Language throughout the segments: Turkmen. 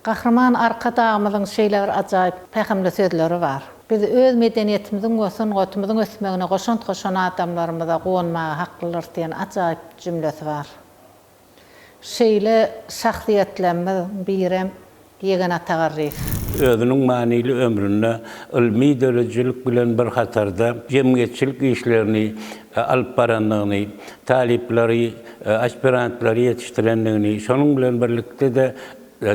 Gahryman Arkadagymyzyň şeýle bir ajaýyp, pähimli sözleri bar, Biz öz medeniýetimiziň we sungatymyzyň ösmegine goşant goşan adamlarymyza guwanmaga haklydyrys diýen ajaýyp jümlesi bar. Şeýle şahsyýetlerimiz birem Ýegen Atagarryýew. Özüniň manyly ömründe ylmy döredijilik bilen bir hatarda jemgyýetçilik işlerini alyp barandygyny, talyplary, aspirantlary ýetişdirendigini, şonuň bilen birlikde-de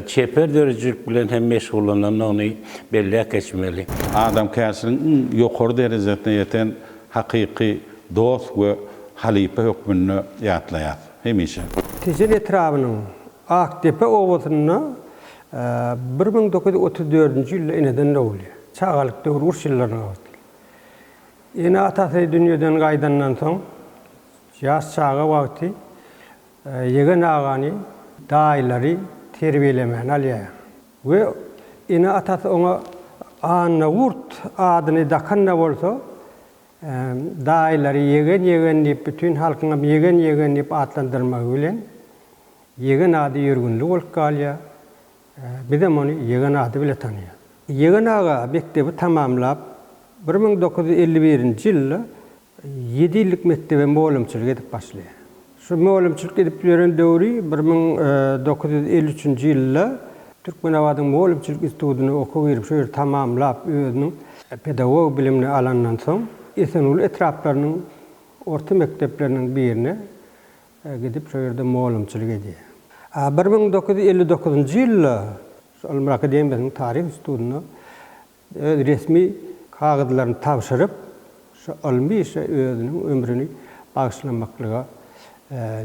çeper döredijilik bilen hem meşgullanandygyny belläp geçmeli. Adamkärçiligiň iň ýokary derejesine ýeten hakyky dost we halypa hökmünde ýatlaýarys. hemişe. Tejen etrabynyň Akdepe obasynda bir müň dokuz ýüz otuz dördünji ýylda eneden dogulýar. Çagalyk döwri uruş ýyllaryna bagyşlaýar. Ene-atasy dünýeden gaýdandan soň, ýaş çaga wagty ýegen agany, daýylary terbiýelemäni alýar we ene-atasy oňa Annagurt adyny dakan-da bolsa, Daýylary Ýegen Ýegen diýip bütin halkyňam Ýegen Ýegen diýip atlandyrmagy bilen Ýegen ady ýörgünli bolup galýar. Bizem ony Ýegen ady bile tanaýas. Ýegen aga mekdebi tamamlap bir müň dokuz ýüz elli birinji ýylda ýedi ýyllyk mekdebe mugallymçylyk edip başlaýar. Şu mugallymçylyk edip ýören döwri bir müň dokuz ýüz elli üçünji ýylda Türkmenabadyň mugallymçylyk institutyna okuw girip, şu ýerde tamamlap, özüniň pedagog bilimini alandan soň, Esenguly etraplarynyň orta mekdepleriniň birine gidip, şo ýerde mugallymçylyk edýär. A bir müň dokuz ýüz elli dokuzynjy ýylda şu Ylymlar akademiýasynyň Taryh institutyna öz resmi kagyzlaryny tabşyryp, şu ylmy işe özüniň ömrüni bagyşlamaklyga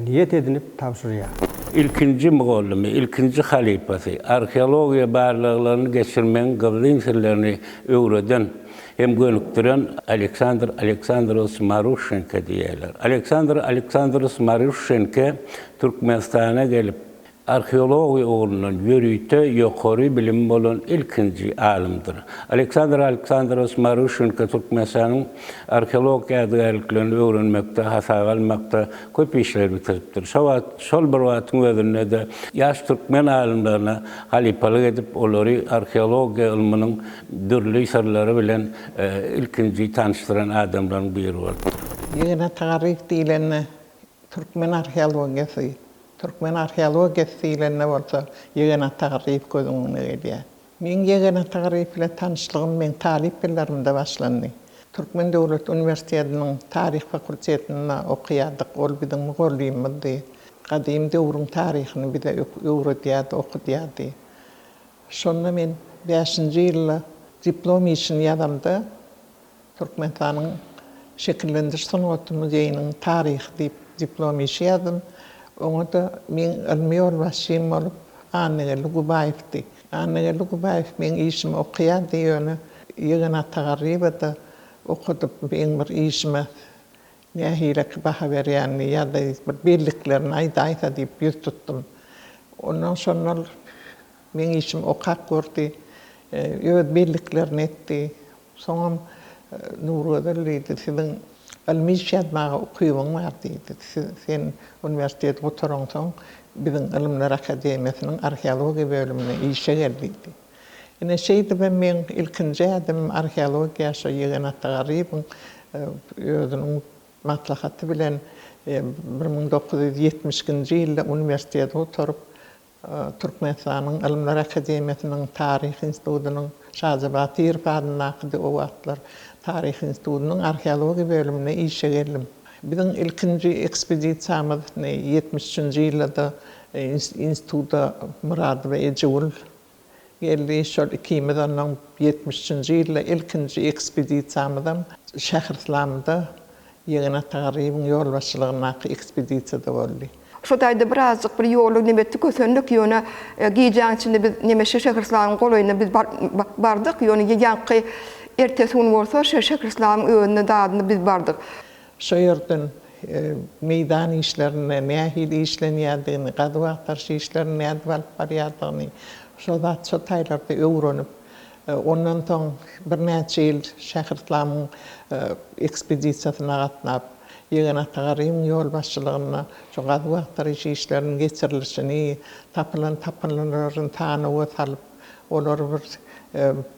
niýet edinip tabşyrýar. Ilkinji mugallymy, ilkinji halypasy, arheologiýa barlaglaryny geçirmegiň gizlin sirlerini öwreden hem gönükdiren Aleksandr Aleksandrowiç Maruşşenko diýýärler. Aleksandr Aleksandrowiç Maruşşenko Türkmenistana gelip, Arheologiýa ugrundan ýörite ýokary bilimi bolan ilkinji alymdyr. Aleksandr Aleksandrows Maruşenko Türkmenistanyň arheologik ýadygärliklerini öwrenmekde, hasaba almakda köp işleri bitiripdir. Şo wagt, şol bir wagtyň özünde-de ýaş türkmen alymlaryna halypalyk edip, olary arheologiýa ylmynyň dürli syrlary bilen ilkinji tanyşdyran adamlaryň biri bolupdyr. Ýygnaty Garyp diýlende, Türkmen arheologiýasy, Türkmen arheologiýasy diýlende bolsa Ýegen Atagyryýew göz öňüňe gelýär. Meň Ýegen Atagyryýew bilen tanyşlygym meň talyp ýyllarymda başlandy. Türkmen döwlet uniwersitetiniň taryh fakultetinde okaýardyk, ol biziň mugallymymyzdy. Gadym döwrüň taryhyny bize öwredýärdi, okudýardy. Şonda men bäşinji ýylda diplom işini ýazamda, Türkmenistanyň Şekillendiriş sungaty muzeýiniň taryhy diýip diplom işi ýazdym. Oňa-da meň ylmy ýolbaşçym bolup Annageldi Gubaýewdi. Annageldi Gubaýew meň işimi okaýardy, ýöne ýegeni Atagarryýewa-da okadyp, meň bir işime nähileki baha berýänini ýa-da bir belliklerini aýdaýsa diýip ýüz tutdum. Ondan soň ol meň işimi okap gördi, öz belliklerini etdi. Soňam Nurgözel diýdi, Siziň ylmy iş ýazmaga ukybyň bar diýdi. Sen uniwersiteti gutaransoň, biziň Ylymlar akademiýasynyň arheologiýa bölümine işe gel diýdi. Ine, şeýdibem meň ilkinji ädimim arheologiýa şo Ýegen Atagaryýewiň özüniň maslahaty bilen bir müň dokuz ýüz ýetmiş ikinji ýylda uniwersiteti gutaryp, Türkmenistanyň Ylymlar akademiýasynyň Taryh institutynyň Şaja Batyrow adyndaky o wagtlar Taryh institutynyň arheologiýa bölümine işe geldim. Biziň ilkinji ekspedisiýamyz ýetmiş üçünji ýylda-da instituta Myradowa Ejegül Geldi, şol ikimiz onnoň ýetmiş üçünji ýylda ilkinji ekspedisiýamyzam Şähryslamda Ýegen Atagaryýewiň ýolbaşçylygyndaky ekspedisiýada boldy. Şotaýda birazjyk bir ýoly nebetde kösendik, ýöne gijäň içinde biz Nemeşe Şähryslamyň golaýyna biz bardyk, ýöne ýaňky ertesi gün bolsa şo Şähryslamyň özüne dadyna biz bardyk. Şo ýerden meýdan işlerinde nähili işlenýändigini, gazuw-agtaryş işlerini nädip alyp barýandygyny, şo zat şo taýlarda öwrenip, ondan soň birnäçe ýyl Şähryslamyň ekspedisiýasyna gatnap, Ýegen Atagarybyň ýolbaşçylygynda şo gazuw-agtaryş işleriniň geçirilişini, tapylan tapyndylaryny sanawa salyp, olary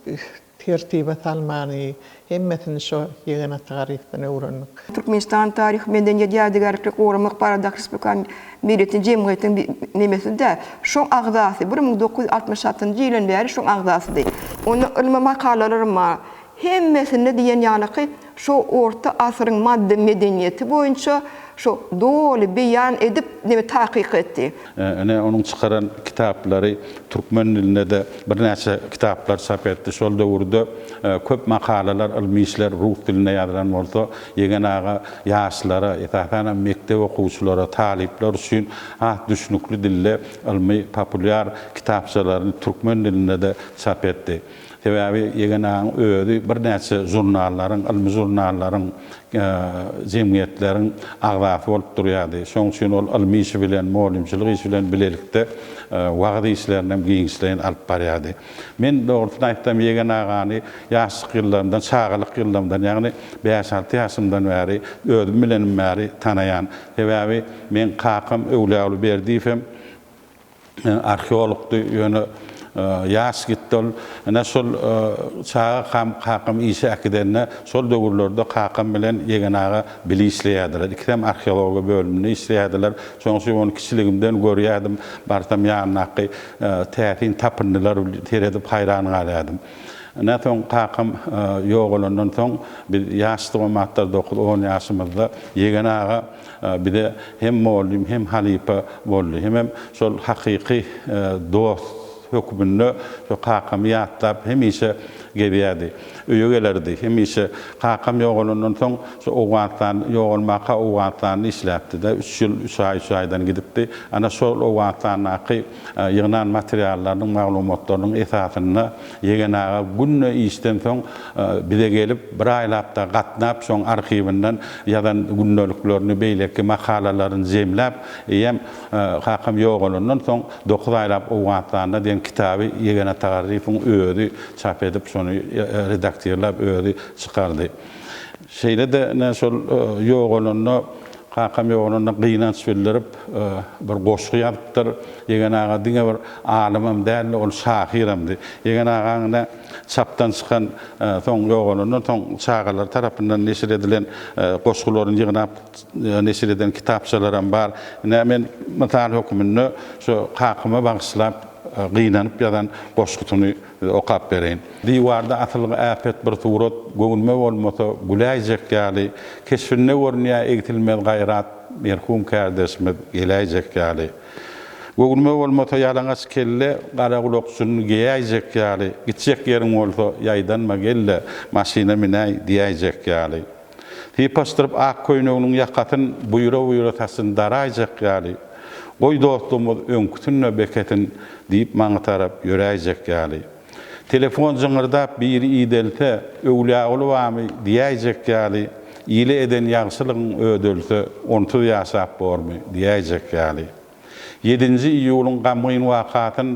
bir Tertibe salmany, hemmesini şo ýegenat Garypdan öwrendik. Türkmenistanyň Taryh, medeniýet, ýadygärlikleri goramak baradaky respublikan biletin jemgyýetiň bi nemesi-de, şoň agzasy, bir müň dokuz ýüz altmyş altynjy ýylan bäri şoň agzasydy. Onda ylmy makalalarym bar. Hemmesinde diýen ýalyky, Şo orta asyryň maddy medeniýeti boýunça şo doly beýan edip neme takyk etdi. Ine onuň çykaran kitaplary türkmen dilinde-de birnäçe kitaplar çap etdi. Şol döwürde köp makalalar, ylmy işler rus dilinde ýazylan bolsa, Ýegen aga ýaşlara, esasan hem mekdep okuwçylara, talyplar üçin has düşnükli dilde ylmy populýar kitapçalaryny türkmen dilinde-de çap etdi. Sebäbi Egenagyň özi birnäçe žurnallaryň, ylmy žurnallaryň, jemgyýetleriň agzasy bolup durýardy. Şonuň üçin ol ylmy işi bilen, mugallymçylyk işi bilen bilelikde wagyz işlerini hem giňişleýin alyp barýardy. Men, dogrusyny aýtsam, Egen agany ýaşlyk ýyllarymdan, çagalyk ýyllarymdan, ýagny bäş-alty ýaşymdan bäri, özüm bilenim bäri tanaýan. Sebäbi meň kakam Öwlüaly Berdiýew hem arheologdy ýöne ýaş gitdi ol. Ine şol çaga kam kakam işe äkidende şol döwürlerde kakam bilen Ýegen aga bile işleýärdiler. Ikisem arheologiýa bölüminde işleýärdiler. Şoň üçin ony kiçiligimden görýärdim. Barsam ýanyndaky täsin tapyndylar seredip haýran galýardym. Ine soň kakam ýogalandan soň biz ýaşdyk o matda dokuz-on ýaşymyzda Ýegen aga bize hem mugallym hem halypa boldy. Hemem şol hakyky dost hökmünde şo kakamy ýatlap hemişe gezýärdi. Öýe gelerdi. Hemişe kakam ýogalandan soň şu Owganystan ýogalmaka Owganystanda işläpdi-de, üç ýyl üç aý üç aýdan gidipdi. Ana şol Owganystandaky. ýygnan materiallarynyň, maglumatlarynyň esasynda Ýegen aga günde işden soň bize gelip, bir aýlap-da gatnap, şoň arhiwinden ýazan gündeliklerini, beýleki makalalaryny jemläp, eýýäm kakam ýogalandan soň dokuz aýlap Owganystanda diýen kitaby Ýegen Atagarryýewiň özi çap edip, şony redaktirläp, özi çykardy. Şeýle-de ine şol ýogalanda Kakam ýogalanda gynanç bildirip, bir goşgy ýazypdyr. Ýegen aga diňe bir alymam däldi, ol şahyramdy. Ýegen agaň ine, çapdan çykan, soň ýogalandan soň çagalar tarapyndan neşir edilen goşgularyny ýygnap neşir eden kitapçalaram bar. Ine, men mysal hökmünde şu kakama bagyşlap gynanyp ýazan goşgusyny Size okap bereýin. Diwarda asylgy äpet bir surat, Göwnüme bolmasa, güläýjek ýaly, Keşbinde görünýär egsilmez gaýrat, Merhum kärdeşimiz geläýjek ýaly. Göwnüme bolmasa ýalaňaç kelle, Gara gulakçynyny geýäýjek ýaly, Gitjek ýeriň bolsa, ýaýdanma gel-de, Maşyna minäý diýäýjek ýaly. Sypaşdyryp ak köýneginiň ýakasyn buýra-buýra saçyn daraýjak ýaly, Goý dostlugymyz öňküsinde bekesin diýip maňa tarap ýöräýjek ýaly. Telefon jyňyrdap biri idelse, Öwlýaguly bamy diýäýjek ýaly, Ile eden ýagşylygyň ödelse, Onsuz ýaşap bormy diýäýjek ýaly. Ýedinji iýulyň gamgyn wakasyn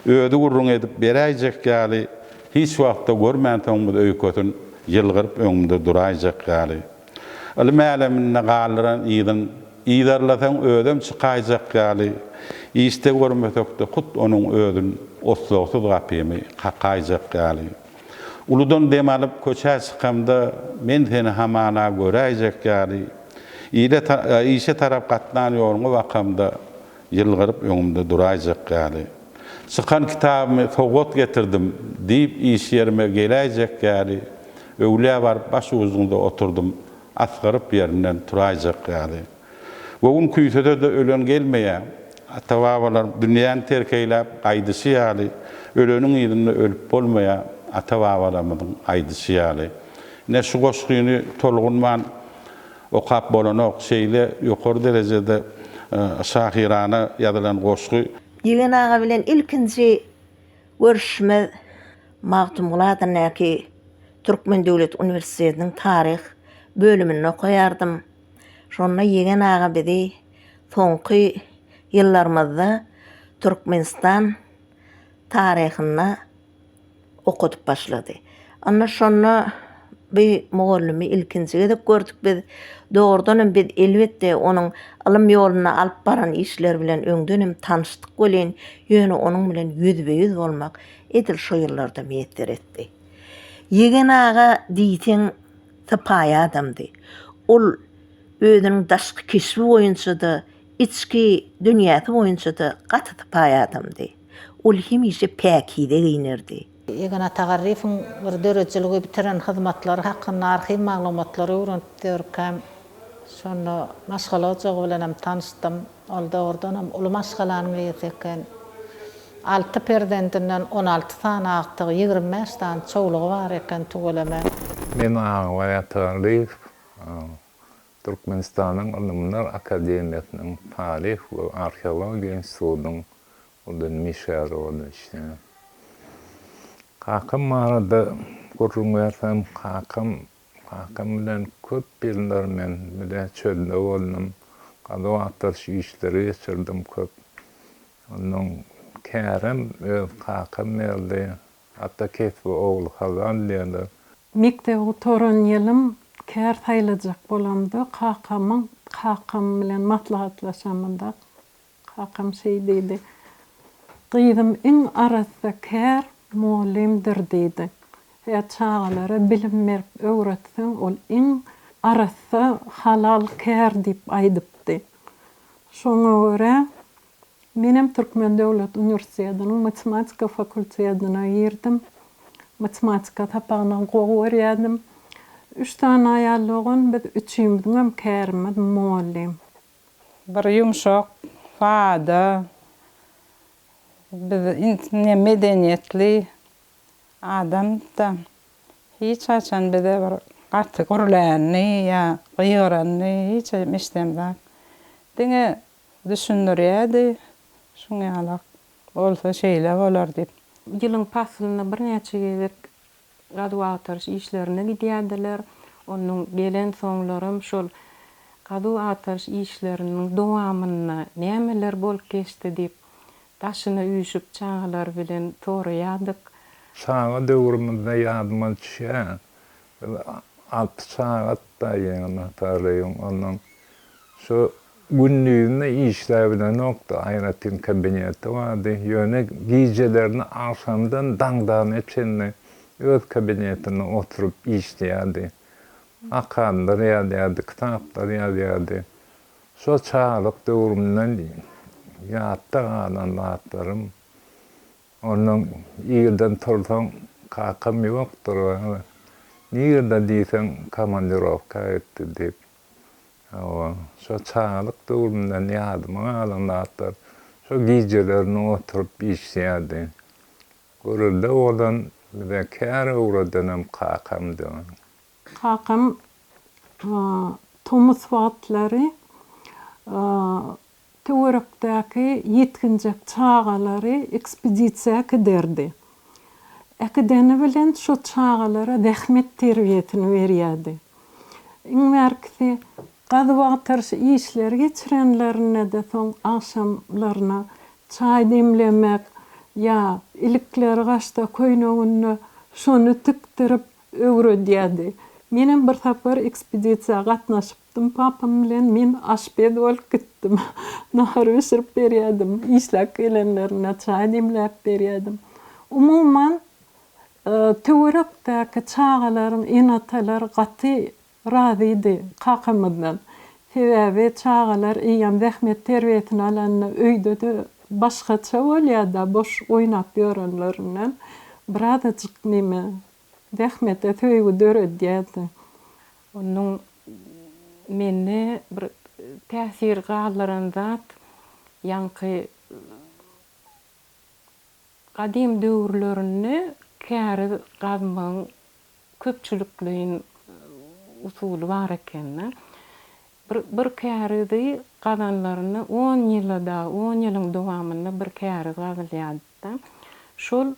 özi gürrüň edip beräýjek ýaly, hiç wagtda görmänsoňmyz öýkesyn ýylgyryp öňümde duraýjak ýaly. Ylym äleminde galdyran yzyn yzarlasaň özem çykaýjak ýaly, işde görmesekde hut onuň özün oslagsyz gapymy kakaýjak ýaly. Uludan dem alyp, köçä çykamda, men seni hamana göräýjek ýaly, ile, işe tarap gatnan ýoluňa bakamda, ýylgyryp öňümde duraýjak ýaly, çykan kitabymy sowgat getirdim diýip, iş ýerime geläýjek ýaly, öwlä baryp başugyzyňda oturdym, asgyryp ýerimden turaýjak ýaly. Göwün küýsede-de ölen gelmeýä. Ata-babalar dünýäni terk eýläp gaýdyşy ýaly, öleniň yzynda ölüp bolmaýa. Ata-babalarymyzyň aýdyşy ýaly. Ine, şu goşgyny tolgunman okap bolanok. Şeýle ýokary derejede şahyrana ýazylan goşgy. Ýegen aga bilen ilkinji görüşimiz Magtymguly adyndaky Türkmen döwlet uniwersitetiniň taryh bölüminde okaýardym. Şonda Ýegen aga bizi soňky ýyllarymyzda Türkmenistan taryhynda okadyp başlady. Onda şonda bu mugallymy ilkinji gezek gördük biz. Dogrudan hem biz elbetde onuň ylym ýolunda alyp baran işleri bilen öňden hem tanyşdyk welin, ýöne onuň bilen ýüzbe-ýüz bolmak edil şo ýyllarda miýesser etdi. Ýegen aga diýseň Sypaýy adamdy. Ol özüniň daşky keşbi boýunça-da, içki dünýäsi boýunça-da gaty sypaýy adamdy. Ol hemişe päkize geýnerdi. Ýegän Atagarryýewiň bir döredijiligi bitiren hyzmatlary hakynda arhiw maglumatlary öwrenip ýörkäm, şonda maşgala ojagy bilen hem tanyşdym. Ol dogrudanam uly maşgalanyň eýesi eken. Alty perzendinden on alty sany agtygy, ýigrimi bäş sany çowlugy bar eken tüweleme. Men aglap ýatyran gyz Türkmenistanyň Ylymlar akademiýasynyň Taryh we arheologiýa institutynyň Uldan Mişärowada işleýän. Kakam barada gürrüň bersem, kakam Kakam bilen köp ýyllar men bile çölde boldum. Gazuw-agtaryş işleri geçirdim köp. Ondan kärem öz kakam berdi. Ata kesbi ogly halal diýerler. Mekdebi gutaran ýylym kär saýlajak bolamda kakamyň kakam bilen maslahatlaşamyda Kakam şeý diýdi, Gyzym iň arassa kär mugallymdyr diýdi. Hä, çagalara bilim berip öwretseň, ol iň arassa, halal kär diýip aýdypdy. Şoňa görä, menem Türkmen döwlet uniwersitetiniň matematika fakultetine girdim. Matematika sapagyny gowy görýärdim. Üç sany aýal dogan, biz üçimiziňem kärimiz mugallym. Bir ýumşak, sada, biz ne medeniýetli adam-da hiç haçan bize bir gaty gürlänini ýa gygyranyny hiç haçan eşidemzok. Diňe düşündirýärdi, şuň ýalak bolsa şeýle bolar diýip. Ýylyň paslynda birnäçe gezek gazuw-agtaryş işlerine gidýärdiler. Onuň gelensoňlaram şol gazuw-agtaryş işleriniň dowamynda nämeler bolup geçdi diýip, daşyna üýşüp çagalar bilen soraýardyk. Çaga döwrümizde ýadyma düşýän, biz alty çagadyk daýymyz, Hatary daýym. Ondan şu Gündiziňde işläp bilenokdy, aýratyn kabineti bardy, ýöne gijelerine agşamdan daňdana çenli öz kabinetinde oturyp işleýärdi. Akanlar ýazýardy, kitaplar ýazýardy. Şo çagalyk döwrümden ýatda galan zatlarym. Ondan irden tursaň, kakam ýokdur, nirde diýseň, komandirowka gitdi diýip. Hawa, şo çagalyk döwrümden ýadyma galan zatlar, şo gijelerini oturyp işleýärdi. Görelde bolan bize kär öwredenem kakamdy. Kakam tomus wagtlary töwerekdäki ýetginjek çagalary ekspedisiýa äkiderdi. Äkideni bilen şo çagalara zähmet terbiýesini berýärdi. Iň bärkisi gazup-agtaryş işleri geçirenlerinde-de soň agşamlaryna çaý demlemek ýa ilikleri gaçsa köýneginde şony tikdirip öwredýärdi. Menem bir sapar ekspedisiýa gatnaşyp Dum papam bilen men aşpez bolup gitdim. Nahar bişirip berýärdim. Işläp gelenlerine çaý demläp berýärdim. Umuman, töwerekdäki çagalaryň ene-atalary gaty razydy kakamyzdan. Sebäbi çagalar eýýäm zähmet terbiýesini alanda öýde-de başgaça bolýar-da, boş oýnap ýörenlerinden birazajyk näme Zähmete söýgi döredýärdi. Onuň mende bir täsir galdyran zat, ýaňky gadym döwürlerinde käriz gazmagyň köpçülikleýin usuly bar eken-de. Bir bir kärizi gazanlarynda on ýyla dagy, on ýylyň dowamynda bir käriz gazylýardy-da. Şol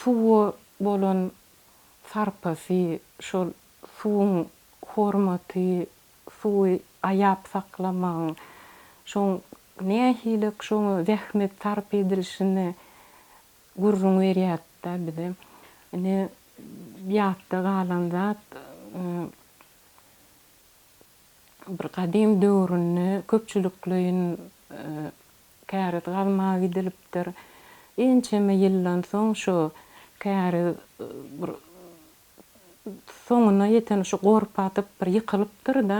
suwa bolan sarpasy, şol suwuň hormaty, suwy aýap saklamagyň, şoň nähili-k şoňa zähmet sarp edilişini gürrüň berýärdi-de bize. Ine, ýatda galan zat, bir gadym döwründe köpçülikleýin Käriz gazmaga gidilipdir. Ençeme ýyldan soň şu käriz bir soňuna ýeten şu gorp atyp bir ýykylypdyr-da,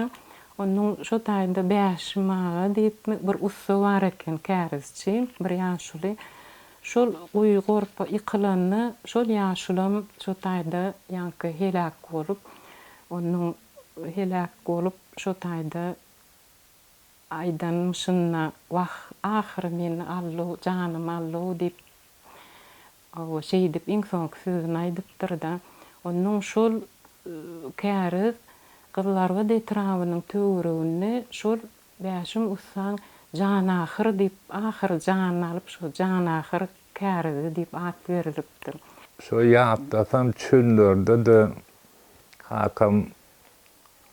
onuň şo taýda Bäşim aga diýipmi bir ussa bar eken, kärizçi bir ýaşuly. Şol guýy gorp ýykylanda şol ýaşulam şo taýda ýaňky heläk bolup, onuň heläk bolup şo taýda. Aýdanym şunda, Wah, ahyry men Allow, janym Allow diýip, hawa, şeýdip iň soňky sözüni aýdypdyr-da. Onuň şol Käriz Gyzlarbat etrabynyň töwereginde şol Bäşim ussaň Janahyr diýip, ahyry janyny alyp, şo Janahyr kärizi diýip at berlipdir. Şo ýatlasam çöllerde-de kakam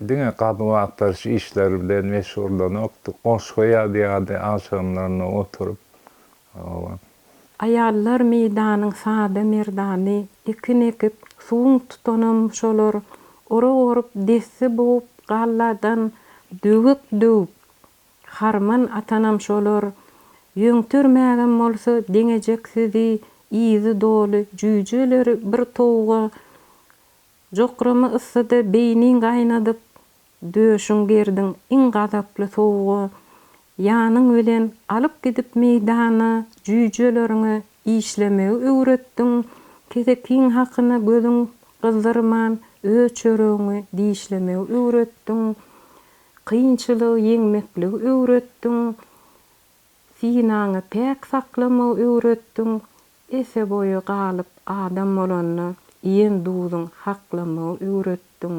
Diňe gazuw-agtaryş işleri bilen meşgullanokdy, goşgy ýazýardy agşamlaryna oturyp. Hawa. Aýallar meýdanyň sada merdany, ekin ekip, suwuň tutanam şolar, orak orup, desse bugup, galladan döwek döwüp, harman atanam şolar. Ýöňtermägem bolsa deňejeksizi, yzy doly jüýjeleri bir towuga Jokrama yssyda beýniň gaýnadyp, döşüň gerdiň iň gazaply sowuga, ýanyň bilen alyp gidip meýdana jüýjeleriňi işlemegi öwretdiň, kesekiň hakyna gözüň gyzdyrman öz çöregiňi dişlemegi öwretdiň, kynçylygy ýeňmekligi öwretdiň, synaňy päk saklamagy öwretdiň, Ese boýy galyp adam bolanda iýen duzuň haklamagy öwretdiň.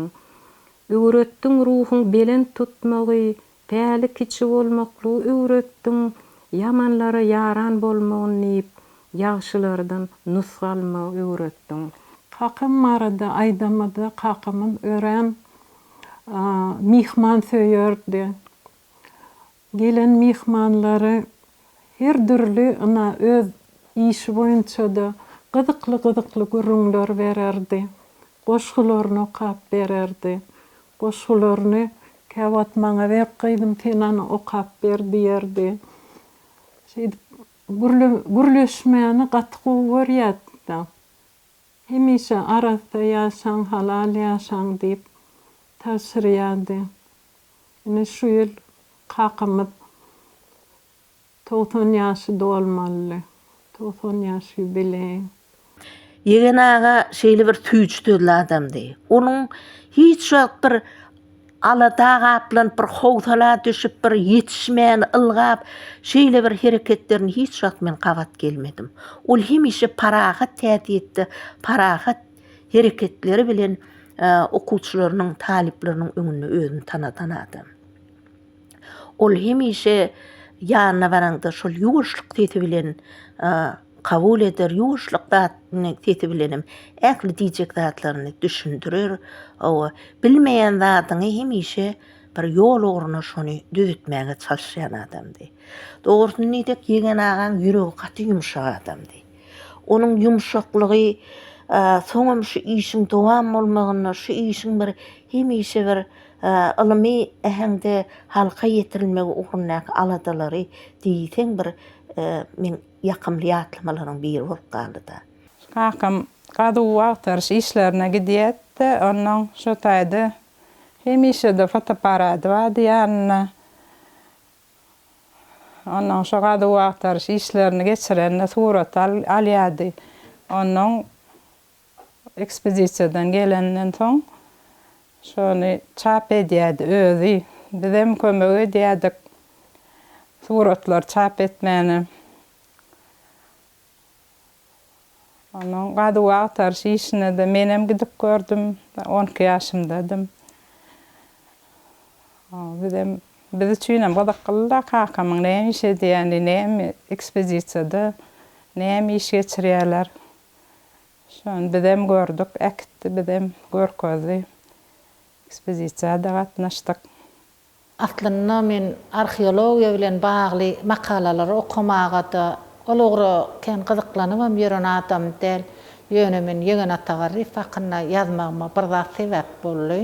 Öwretdiň ruhuň belent tutmagy, päli kiçi bolmaklygy öwretdiň, ýamanlara ýaran bolmagyn diýip, ýagşylardan nusga almagy öwretdiň. Kakam barada aýdamyzda kakamyz örän myhmansöýerdi. Gelen myhmanlary her dürli ina öz işi boýunçada gyzykly-gyzykly gürrüňler bererdi, goşgularyny okap bererdi. Goşgularyny käwagt maňa ber gyzym sen ony okap ber diýerdi. Şeýdip gürle gürleşmäni gaty gowy görýärdi-de. Hemişe arassa ýaşaň, halal ýaşaň diýip tabşyrýardy. Ine şu ýyl kakamyz togsan ýaşy dolmalydy. Togsan ýaş ýubileý. Ýegen aga şeýle bir süýjtözli adamdy. Onuň hiç wagt bir alada gaplanyp, bir howsala düşüp, bir ýetişmän, ylgap, şeýle bir hereketlerini hiç wagt men gabat gelmedim. Ol hemişe parahat häsiýetde, parahat. hereketleri bilen okuwçylarynyň, talyplarynyň öňünde özüni tanadan adam. Ol hemişe ýanyna baranda şol ýuwaşlyk sesi bilen kabul eder, ýuwaşlyk zatny sesi bilen hem ähli diýjek zatlaryny düşündirer. Hawa, bilmeýän zadyňy hemişe bir ýol ugruna şony düzetmäge çalyşýan adamdy. Dogrusyny diýsek, Ýegen agaň ýüregi gaty ýumşak adamdy. Onuň ýumşaklygy soňam şu işiň dowam bolmagynda, şu işiň bir hemişe bir ylmy äheňde halka ýetirilmegi ugrundaky aladalary diýseň bir meň ýakymly ýatlamalaryň biri bolup galdy-da. Kakam gazuw-agtaryş işlerine gidýärdi-de, onnoň şo taýda hemişe-de fotoapparady bardy ýanynda. Onnoň şo gazuw-agtaryş işlerini geçirende surat alýardy. Onnoň ekspedisiýadan gelenden soň şony çap edýärdi özi. Bizem kömek edýärdik suratlary çap etmäne. Onuň gazuw-agtaryş işine-de menem gidip gördüm. On iki ýaşymdadym. Bizem, biz üçinem gyzyklydy-da, kakamyň näme iş edýäni, näme ekspedisiýada, näme iş geçirýärler. Şony bizem gördük, äkitdi, bizem görkezdi. Ekspedisiýa-da gatnaşdyk. Aslynda men arheologiýa bilen bagly makalalary okamaga-da ol ugra kän gyzyklanybam ýören adam däl. Ýöne men Ýegen Atagarryýew hakynda ýazmagyma bir zat sebäp boldy.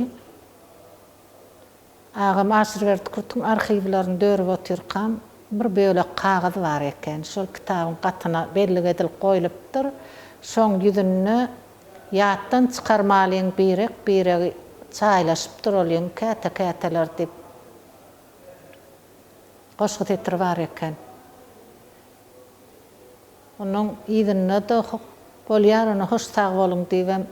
Agam Aşyrberdi Kürtüň arhiwlerini dörüp otyrkam, bir bölek kagyz bar eken. Şol kitabyň gatyna bellik edilip goýlupdyr. Şoň ýüzünde. Ýatdan çykarmalyň birek biregi çaýlaşyp duralyň käte käteler diýip goşgy setiri bar eken. Onuň yzynda da bolýar ony hoş sag boluň diýibem.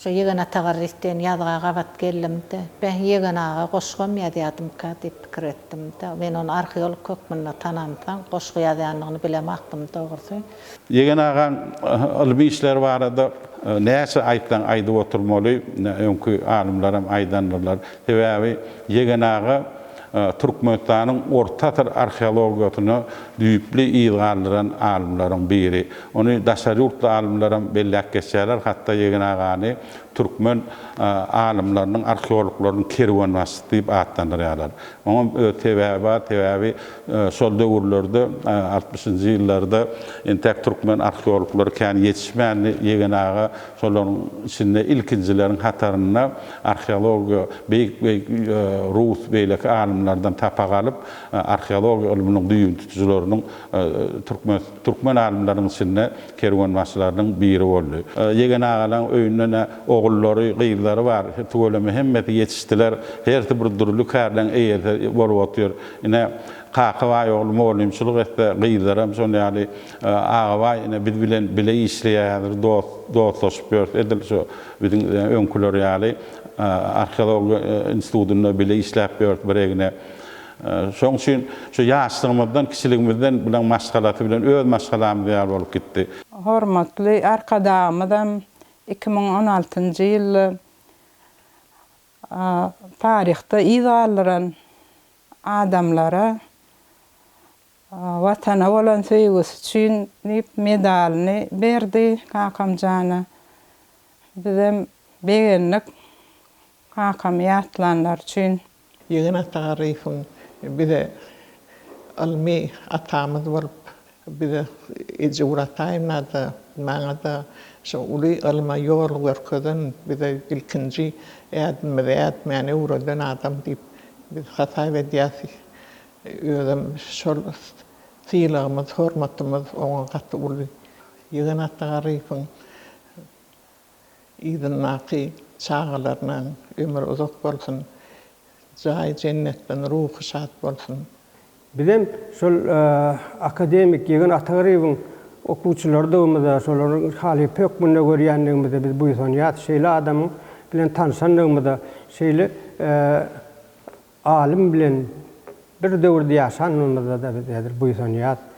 Şo Ýegen Atagarryýew diýen ýazga gabat geldim-de, Beh, Ýegen aga goşgam ýazýadymyka diýip pikir etdim-de. Men ony arheolog hökmünde tanamsoň, goşgy ýazýanyny bilemokdym dogrusy. Ýegen agaň ylmy işleri barada näçe aýtsaň aýdyp oturmaly, öňki alymlaram aýdandylar. Sebäbi Ýegen aga Türkmenistanyň orta asyr arheologiýasyna düýpli yz galdyran alymlaryň biri. Ony daşary ýurtly alymlaram belläp geçýärler, hatda Ýegen agany türkmen alymlarynyň, arheologlarynyň kerwenbaşysy diýip atlandyrýarlar. Oňam öz sebäbi bar, sebäbi şol döwürlerde, altmyşynjy ýyllarda entäk türkmen arheologlary kän ýetişmändi, Ýegen aga Şolaryň içinde ilkinjileriň hatarynda arheologiýa beýik-beýik rus beýleki alymlardan sapak alyp, arheologiýa ylmynyň düýbüni tutujylarynyň türkmen türkmen alymlarynyň içinde kerwenbaşylarynyň biri boldy. Ýegen agalaň öýünde-ne ogullary, gyzlary bar. Tüweleme hemmesi ýetişdiler. Hersi bir dürli kärleň eýesi bolup otyr. Ine, Kakabaý ogly mugallymçylyk etse, gyzlaram şol ýaly. Agabaý ine biz bilen bile işleýär häzir dost dostlaşyp ýörüs edil şu biziň öňküler ýaly arheologiýa institutynda bile işläp ýörüs bir egne şoň üçin şu ýaşlygymyzdan kiçiligimizden bilen maşgalasy bilen öz maşgalamyz ýaly bolup gitdi. Hormatly Arkadagymyzam iki müň on altynjy ýylda taryhda yz galdyran adamlara Watana bolan söýgüsi üçin diýip medalyny berdi Kakamjana. Bizem begendik kakamy ýatlanlar üçin. Ýegen Atagarryýewiň bize ylmy atamyz bolup, bize eje Urataýewnada, maňada şu uly ylma ýol görkezen, bize ilkinji ädimimizi ätmäni öwreden adam diýip biz hasaýp edýäs. Özem şol sylagymyz, hormatymyz oňa gaty uly. Ýigit Atda Garyýewiň yzyndaky çagalarynyň ömri uzak bolsun, jaýy jennetden, ruhy şat bolsun! Bizem şol akademik Ýigit Atda Garyýewiň okuwçylarydygymyza, şolaryň halypa hökmünde görýändigimize biz buýsanýas. Şeýle adamyň bilen tanşandygymyza, şeýle Alym bilen bir döwürde ýaşanymyzda-da biz häzir buýsanýas.